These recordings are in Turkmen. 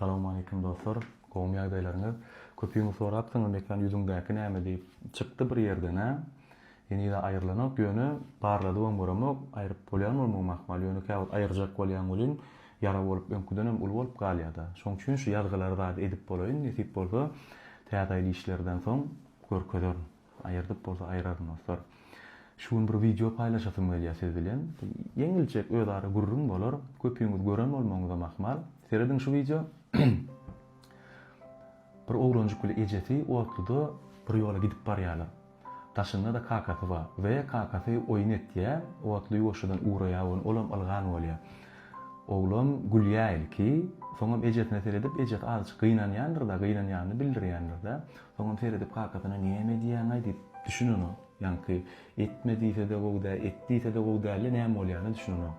Salawmaleýkim dostlar. Gowmy ýagdaýlaryňyz? Köpüňiz sorapsyňyz Mekan ýüzüňdäki näme diýip. Çykdy bir ýerden-ä. Henizem aýrylanok, ýöne barladybam göremok. Aýryp bolýan bolmagy mahmal, ýöne käwagt aýyrjak bolýan welin, ýara bolup öňküdenem uly bolup galýa-da. Şoň üçin şu ýazgylary zat edip bolaýyn, nesip bolsa, Täze ýyl işlerden soň görkezerin. Aýyrdyp bolsa aýraryn dostlar. Şu gün bir wideo paýlaşasym gelýär siz bilen. Ýeňiljek özara gürrüň bolar. Köpüňiz gören bolmagyňyzam ahmal. Serediň şu wideo. Bir oglanjyk bile ejesi otluda bir ýola gidip barýarlar. Daşynda-da kakasy bar. We kakasy oýun etýär. Otly ýuwaşjadan uraýar ony. Olam ylgan bolýar. Oglan gülýär ilki. Soňam ejesine seredip, ejesi azajyk gynanýandyr-da, gynanýanyny bildirýändir-de. Soňam seredip kakasyna näme edýäňaý diýip düşünenok. Ýaňky etme diýse-de gowy däl, et diýse-de gowy däldi, näme bolýanyna düşünenok.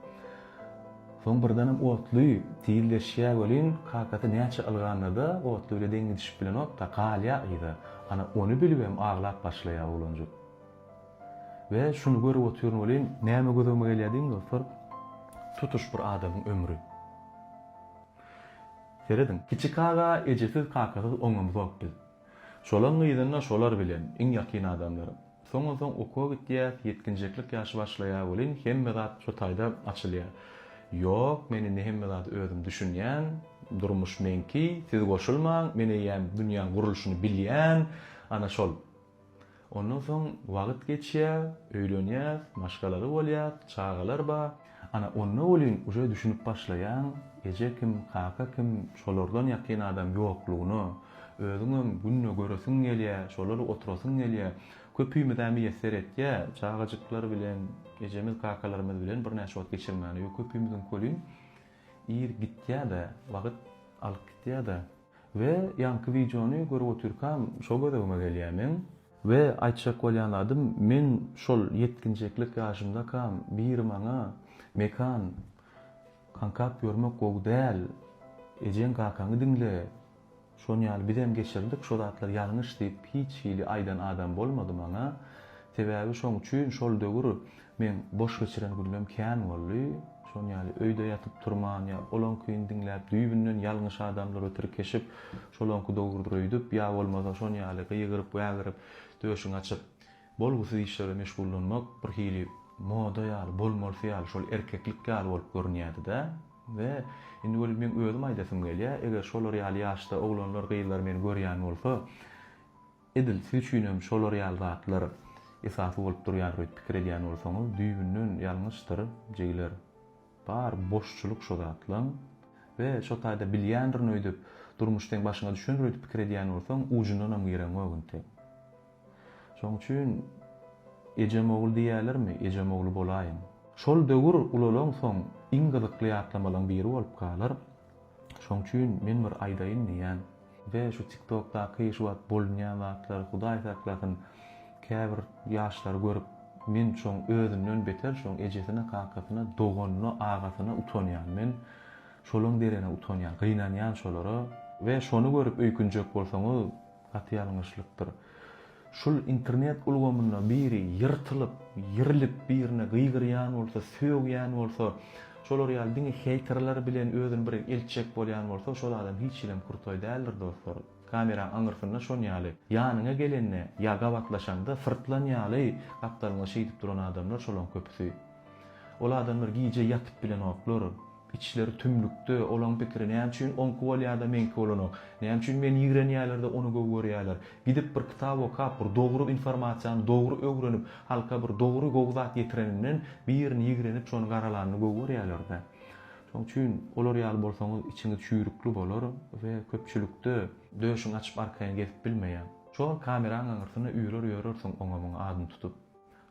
Soň birdenem otly tizleşýä welin, kakasy näçe ylganda-da otly bile deň gidişip bilenok-da, galýa yza. Ana, ony bilibem aglap başlaýa oglanjyk. We şuny görüp otyryn welin, näme gözegime gelýä diýiň dostlar, tutuş bir adamyň ömri. Serediň. Kiçi kaka ejesiz kakasyz oňamzok biz. Şolaň yzynda şolar bilen, iň ýakyn adamlar. Soňunsoň okuwa gitýäs, ýetginjeklik ýaşy başlaýar welin hemme zat şo taýda açylýar. Ýok, men indi hemme zady özüm düşünýän, durmuş meňki, siz goşulmaň, men eýýäm dünýäň gurluşyny bilýän, ana şol. Ondan soň wagt geçýär, öýlenýäs, maşgalaly bolýas, çagalar bar. Ana, onda welin uje düşünip başlaýaň, eje kim, kaka kim, şolardan ýakyn adam ýoklugyna. Özüňem günde göresiň gelýär, şolary oturasyň gelýär. Köpümiz-ä miýesser etýär, çagajyklar bilen, ejemiz, kakalarymyz bilen birnäçe wagt geçirmäne. Ýög köpümiziňki welin ir gitýär-de, wagt alyp gitýär-de. We ýaňky wideony görüp otyrkam şo gözegime gelýä meň. We aýtjak bolýan zadym men şol ýetginjeklik ýaşymdakam biri maňa Mekan kankap ýörmek gowy däl ejeň kakaňy diňle şon ýaly bizem geçirdik şo zatlar ýalňyş diýip hiç hili aýdan adam bolmady maňa sebäbi şoň üçin şol döwür Meň boş geçiren günlem kän boldy. Şon ýaly öýde ýatyp turman ýa olaňkyny diňläp düýbünden ýalňyş adamlara tirkeşip, şolaňky dogrudyr öýdüp, ýa bolmasa şon ýaly gygyryp, wägirip, döşüňi açyp, bolgusyz işlere meşgullanmak bir hili moda ýaly, bolmalysy ýaly, şol erkeklik ýaly bolup görünýärdi-dä. We indi welin meň özüm aýdasym gelýär, eger şolar ýaly ýaşda oglanlar, gyzlar meni görýän bolsa, Edil siz üçin hem şolar ýaly zatlar esasy bolup durýar öýt pikir edýän bolsaňyz düýbünden ýalňyşdyr jigiler bar boşçulyk şo zatlaň we şo taýda bilýändirin öýdüp durmuş seň başyňa düşendir öýdüp pikir edýän bolsaň ujundanam gireňok intek şoň üçin ejem ogul diýýälermi ejem ogly bolaýyň. Şol döwür ulalaň soň iň gyzykly ýatlamalaň biri bolup galar. Şoň üçin men bir aýdaýyn diýýän. Be şu tiktokdaky şu wagt bolunýan zatlar hudaý saklasyn käbir ýaşlar görüp men şoň özünden beter şoň ejesine kakasyna doganyna agasyna utanýan men şolaň derene utanýan gynanýan şolara. Be şony görüp öýkünjek bolsaňyz gaty ýalňyşlykdyr. Şul internet ulgamynda biri ýyrtylyp, ýerlip birine gygyrýan bolsa, sögýän bolsa, şolar ýaly diňe heýterler bilen özüni bir eltjek bolýan bolsa, şol adam hiç hilem krutaý däldir dostlar. Kameraň aňyrsynda şon ýaly, ýanyňa gelende ýa gabatlaşanda syrtlan ýaly gapdalňa şeýdip duran adamlar şolaň köpüsi. Ol adamlar gije ýatyp bilenoklar. Içleri tümlükde, olaň pikiri, näme üçin oňky bolýada meňki bolanok? Näme üçin meni ýigrenýälerde ony gowy görýäler? Gidip bir kitap okap, bir dogry informasiýany dogry öwrenip, halka bir dogry gowy zat ýetireninden, birini ýigrenip şony garalanyny gowy görýäler-dä. Şoň üçin olar ýaly bolsaňyz içiňiz çüýrükli bolar we köpçülikde döşüňi açyp arkaýyn gezip bilmeýäň. Şol kameraň aňyrsyna ýörer ýörersiň oňa-muňa adyny tutup.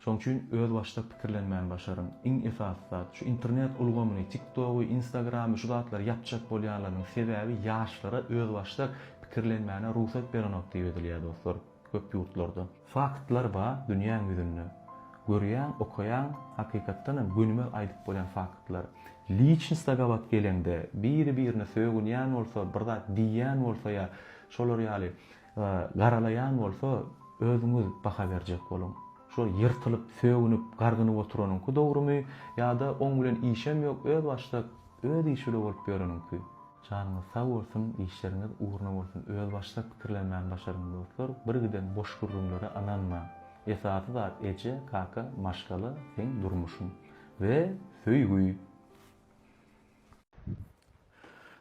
Şoň üçin özbaşdak pikirlenmäni başaryň. Iň esasy zat, şu internet ulgamyny, TikTogy, Instagramy, şu zatlary ýapjak bolýanlarynyň sebäbi ýaşlara özbaşdak pikirlenmäne rugsat berenok diýip edilýär dostlar, köp ýurtlarda. Faktlar bar dünýäň ýüzünde. Görýäň, okaýaň, hakykatdan hem gönümel aýdyp bolýan faktlar. Liçnsta gabat geleňde, biri-birine sögünýän bolsa, bir zat diýýän bolsa ýa şolar ýaly Garalaýan bolsa, özüňiz baha berjek boluň. Şo ýyrtylyp, sögünip, gargynyp oturanyňky dogrumy ýa-da oň bilen işem ýok, özbaşdak, öz işi bile bolup ýöreniňki? Janyňyz sag bolsun, işleriňiz ugruna bolsun. Özbaşdak pikirlenmäni başaryň, dostlar, birgiden boş gürrüňlere ynanmaň. Esasy zat eje, kaka, maşgala, seň durmuşyň we söýgi!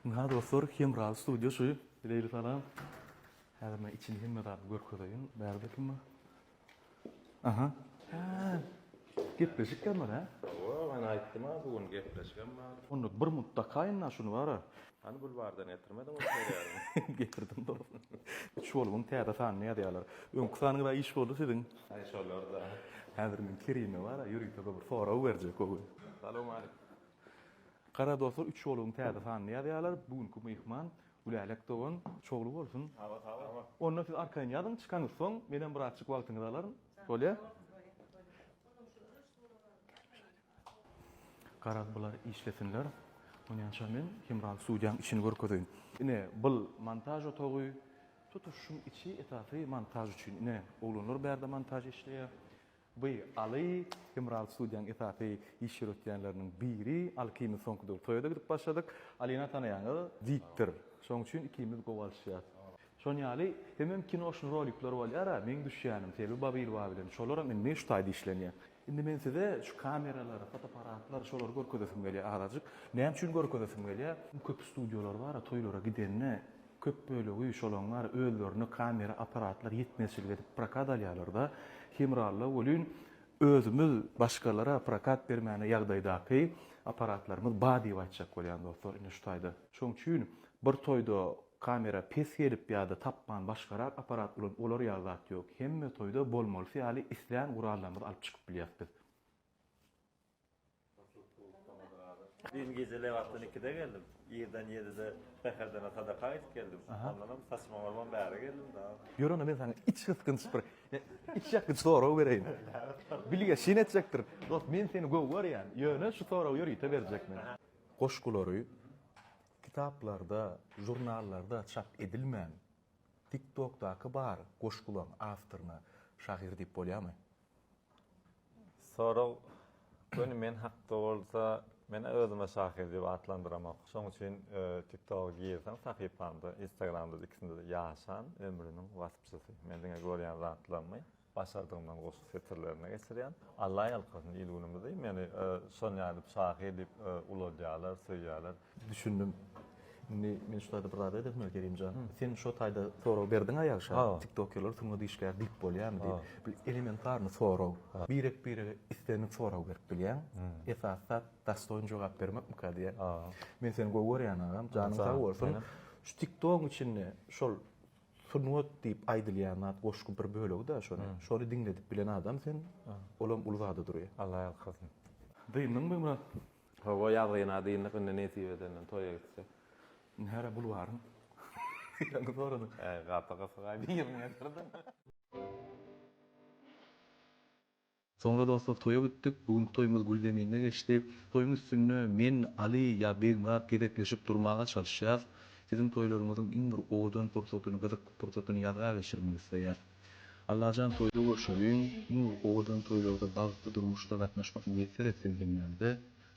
Ynha dostlar, Hemra studio şu. Bileýle salam. Häzir men içini hemme zady görkezeýin. Bärde kim bar? Aha. Ha. Gepleşik hem bar, hä? Hawa, men aýtdym-a bu gün gepleşigem bar. Onda bir mutlaka ynha şuny bar-a. Hany bulwardan getirmediňmi seriýaly? Getirdim dostum. Üç bolumyň täze sanyny ýazýarlar. Öňki sanyňyz-a iş boldy siziň. Aý şolar-da. Häzir men Kerime bar-a ýörite bir sorag berjek o gün. Salowmaleýkim. Gara dostlar üç ýoluň täze sanyny ýazýarlar. Bu günki myhman Gülälek dogan. Şowly bolsun. Sag bol. Onda siz arkaýyn ýazyň çykaňyz soň menem birazjyk wagtyňyzy alaryn. Bolýa? Garaz bular işlesinler. Onýança men Hemraly studiýaň içini görkezeýin. Ine bul montaž otagy. Tutuş şuň içi esasy montaž üçin. Ine oglanlar bärde montaž işleýär. By, Aly, Hemral studiýanyň esasy iş ýöretýänleriniň biri. Aly ikimiz soňky döwür toýa-da gidip başladyk. Alina tanaýaňyz, diktor. Şoň üçin ikimiz gowy alyşýas. Şoň ýaly hemem kino şun rolikler bolýar-a, meň düşýänim Selbi Babylwa bilen. Şolaram indi şu taýda işlenýär. Indi men size şu kameralary, fotoapparatlary şolary görkezesim gelýär azajyk. Näme üçin görkezesim gelýär? Köp studiýalar bar-a, toýlara gidende Köp bölegi şolaň bary özlerine kamera apparatlar ýetmezçilik edip prokat alýarlarda hemralla welin özümiz başgalara prokat bermäne ýagdaýdaky apparatlarymyz ba diýip aýtjak bolýan dostlar ine şu taýda. Şoň üçin bir toýda kamera pes gelip ýada tapman başgarak apparat ulan olar ýaly zat ýok hemme toýda bolmalysy ýaly islän gurallarymyzy alyp çykyp bilýas biz. Düýn gije lebapdan ikide geldim. Irden ýedide säherdene sadaka aýdyp geldim. Ondanam saçyma bolman bäri geldim dagy. Ýör onda men saňa içgysgynç bir içýakgyç sorag bereýin. Bilge şyn etjekdir. Dost men seni gowy görýän. Ýöne şu soragy ýörite berjek men. Goşgulary kitaplarda, žurnallarda çap edilmän, TikTokdaky bar goşgulaň awtoryna şahyr diýip bolýamy? Sorag, Göni men hakda bolsa, men özüme şahyr diýip atlandyramok. Şoň üçin TikToga girseň, sahypamda, Instagramda-da, ikisinde-de ýaşan ömrüniň waspçysy. Men diňe görýän zatlarymy, başardygymdan goşgy setirlerine geçirýän. Alla ýalkasyn il-günümizi meni şonýa edip şahyr diýip uladýarlar, söýýärler. Düşündim. Indi men şu taýda bir zat aýdasym gelýär Kerimjan. Sen şu taýda sorag berdiň-ä ýagşa. TikTokerler sungat işgäri diýip bolýarmy diýip. Bu elementarny sorag. Birek-birege islendik sorag berip bilýäň. Esasy zat dastoýin jogap bermekmika diýýän. Men seni gowy görýän agam, janyň sag bolsun. Şu TikTogyň içinde şol sungat diýip aýdylýan zat goşgy bir bölegi-dä şonuň. Şony diňledip bilen adam sen, olam uly zada durýar. Allah ýalkasyn. Dyndyňmy Murad? Hawa ýazgyna dyndyk indi nesip edende toýa gitsek. Nere bulwaryň ýeriňi soradyň. Äý gaty gysga birini getirdiň. Soňra dostlar toýa gitdik. Bu günki toýumyz gül zeminde geçdi. Toýuň üstünde men, Aly ýa Begmyrat gezekleşip durmaga çalyşýas. Siziň toýlaryňyzyň iň bir owadan pursatyny, gyzykly pursatyny ýazga geçirmek isleýäs. Allajan toýda görşeliň nur owadan toýlarda bagtly durmuşda gatnaşmak miýesser etsin jümlämize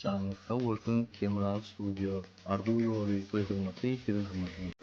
janyňyz sag bolsun Kemral studio Arzuw ýoly toý hyzmaty siziň hyzmatyňyzda.